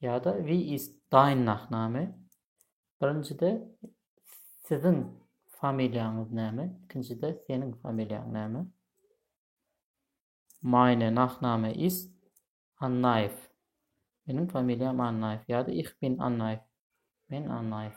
Ýa-da wie ist dein Nachname? Birinjide siziň familiýaňyz näme? Ikinjide seniň familiýaň näme? Meine Nachname ist Annaýew. Meniň familiýam Annaýew ýa-da ich bin Annaýew. Men Annaýew.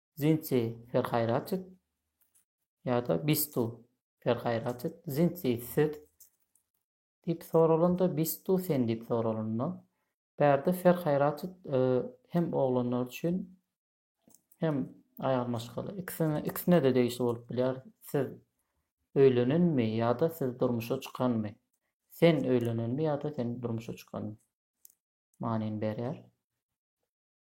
Zinci ferhaýratit ýa-da bistu ferhaýratit, zinci siz diýip soralanda, bistu sen diýip soralanda, bärde ferhaýratit e, hem oglanlar üçin hem aýal maşgala ikisine ikisine-de degişli bolup bilýär. Siz öýlenenmi ýa-da siz durmuşa çykanmy? Sen öýlenenmi ýa-da sen durmuşa çykanmy? Manyny berýär.